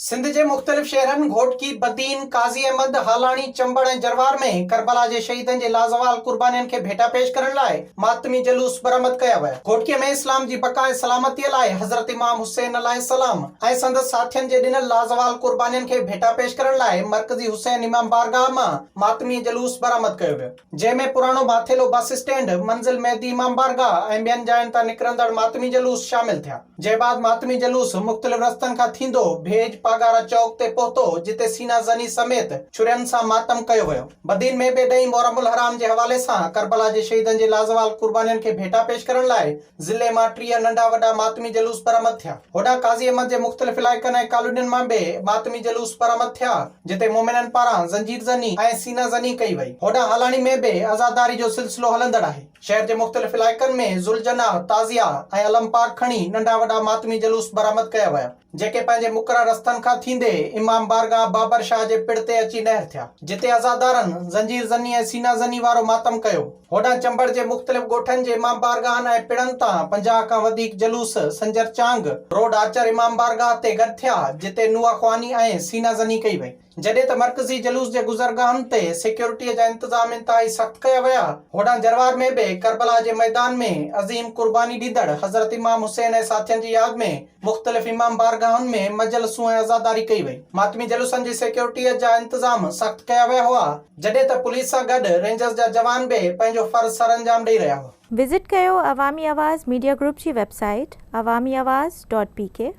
سنڌ جي مختلف شهرن گهوٽڪي، بدين، قاضي احمد، هالاڻي، چمبڙ ۽ جروار ۾ ڪربلا جي شهيدن جي لازوال قربانين کي ڀيٽا پيش ڪرڻ لاء ماتمي جلوس برآمد ڪيا ويا. گهوٽڪي ۾ اسلام جي بقا ۽ سلامتيء لاء حضرت امام حسين عليه السلام ۽ سندس ساٿين جي ڏنل لازوال قربانين کي ڀيٽا پيش ڪرڻ لاء مرڪزي حسين امام بارگاهه مان ماتمي جلوس برآمد ڪيو ويو، جنهن ۾ پراڻو ڀاٿيلو بس اسٽينڊ، منزل مهدي امام بارگاهه ۽ ٻين جاين تان نڪرندڙ ماتمي جلوس شامل ٿيا، جنهن بعد ماتمي جلوس مختلف رستن کان ٿيندو ڀيڄ پاڳارا چوڪ تي پهتو، جتي سينا زني سميت ڇرين سان ماتم ڪيو ويو. بدين ۾ به ڏهين محرم الحرام جي حوالي سان ڪربلا جي شهيدن جي لازوال قربانين کي ڀيٽا پيش ڪرڻ لاء ضلعي مان ٽيهه ننڍا وڏا ماتمي جلوس برآمد ٿيا. هوڏانهن قاضي احمد جي مختلف علائقن ۽ ڪالونين مان به ماتمي جلوس برآمد ٿيا، جتي مومنن پاران زنجير زني ۽ سينه زني ڪئي وئي. هوڏانهن هالاڻي ۾ به عزاداري جو سلسلو هلندڙ آهي. شهر جي مختلف علائقن ۾ ذوالجناح، تعزيه ۽ علم پاڪ کڻي ننڍا وڏا ماتمي جلوس برآمد ڪيا ويا. جيڪي پنهنجي مقرر رستن کان ٿيندي امام بارگاهه بابر شاهه جي پڙ تي اچي نهر ٿيا. جتي عزادارن زنجير زني ۽ سينه زني وارو ماتم ڪيو. هوڏانهن چمبڙ جي مختلف ڳوٺن جي امام بارگاهن ۽ پڙن تان پنجاهه کان وڌيڪ جلوس سنجر چانگ روڊ آچر امام بارگاهه تي گڏ ٿيا، جتي نوحه خواني ۽ سينه زني ڪئي وئي. جڏهن ته مرڪزي جلوس جي گذرگاهن تي سيڪيورٽيء جا انتظام انتهائي سخت ڪيا ويا. هوڏانهن جروار ۾ به ڪربلا جي ميدان ۾ عظيم قرباني ڏيندڙ حضرت امام حسين ۽ ساٿين جي ياد ۾ مختلف امام بارگاهن ۾ مجلسون ۽ عزاداري ڪئي وئي. ماتمي جلوسن جي سيڪيورٽيء جا انتظام سخت ڪيا ويا هئا، جڏهن ته پوليس سان گڏ رينجرز جا جوان به پنهنجو فرض سرانجام ڏئي رهيا هئا. وزٽ ڪيو عوامي آواز ميڊيا گروپ جي website Awami Awaz dot P ڪي.